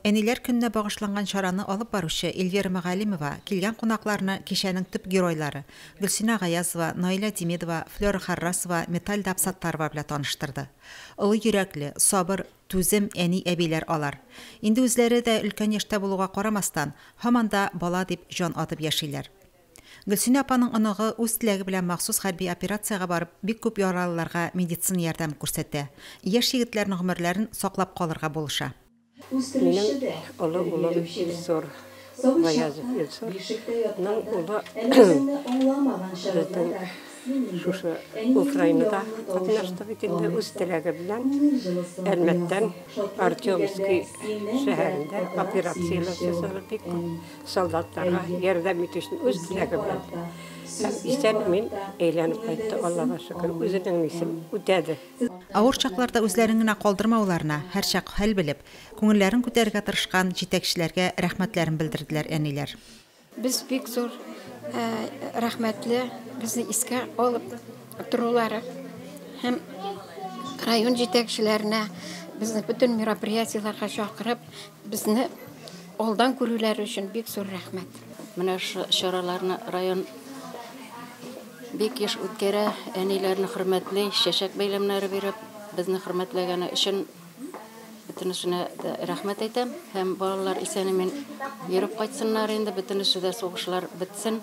Әниләр көненә багышланган чараны алып баручы Эльвира Мәгалимова килгән кунакларны кичәнең төп геройлары, Гөлсинә Гаязова, Наилә Демидова, Флера Харрасова, Метальда Абсаттарова белән таныштырды. Олы йөрәкле, сабыр, түзем әни-әбиләр алар. Инде үзләре дә өлкән яшьтә булуга карамастан, һаман да бала дип җан атып яшиләр. Гөлсинә апаның оныгы үз теләге белән махсус хәрби операциягә барып, бик күп яралыларга медицина ярдәме күрсәтә. Яшь егетләрнең гомерләрен саклап калырга булыша. Минем олы улым Илсур Гаязов Илсур ның улы безнең шушы Украинада катнашты бит инде үз теләге белән Әлмәттән Артемский шәһәрендә операцияләр ясады бик күп. Солдатларга ярдәм итү өчен үз теләге белән. Исән мин әйләнеп кайтты, Аллага шөкер, үзенең нисен үтәде. Авыр чакларда үзләрен генә калдырмауларына, һәрчак хәл белеп, күңелләрен күтәрергә тырышкан җитәкчеләргә рәхмәтләрен белдерделәр әниләр. Без бик зур рәхмәтле, безне искә алып торулары һәм район җитәкчеләренә, безне бөтен мероприятиеләргә чакырып, Безне алдан күрүләре өчен бик зур рәхмәт. Менә шу чараларны район бик еш үткәрә. Әниләрне хөрмәтли, чәчәк бәйләмнәре биреп, безне хөрмәтләгәне өчен бөтенесенә дә рәхмәт әйтәм. Һәм балалар исән-имин йөреп кайтсыннар инде, бөтенесе дә сугышлар бетсен.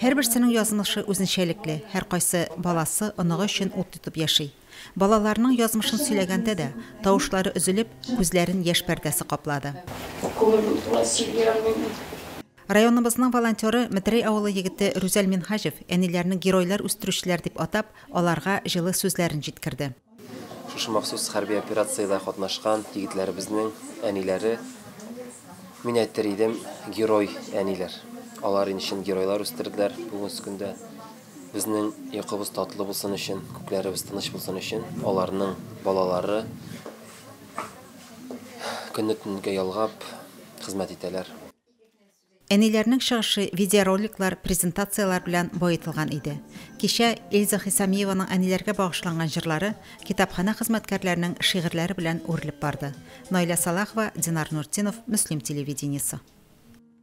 Һәрберсенең язмышы үзенчәлекле, һәркайсы баласы, оныгы өчен ут тотып яши. Балаларының язмышын сөйләгәндә дә, тавышлары өзелеп, күзләрен яшь пәрдәсе каплады. Районыбызның волонтеры, Метрәй авылы егете Рүзәл Минһаҗев әниләрне геройлар үстерүчеләр дип атап, аларга җылы сүзләрен җиткерде. Шушы махсус хәрби операциядә катнашкан егетләребезнең әниләре, мин әйтер идем, герой әниләр. Алар ин чын геройлар үстерделәр бүгенге көндә. Безнең йокыбыз татлы булсын өчен, күкләребез тыныч булсын өчен, аларның балалары көнне-төнгә ялгап хезмәт итәләр. Әниләрнең чыгышы видеороликлар, презентацияләр белән баетылган иде. Кичә Эльза Хисамиеваның әниләргә багышланган җырлары китапханә хезмәткәрләренең шигырьләре белән үрелеп барды. Наилә Сәлахова, Динар Нуртдинов, Мөслим телевидениесе.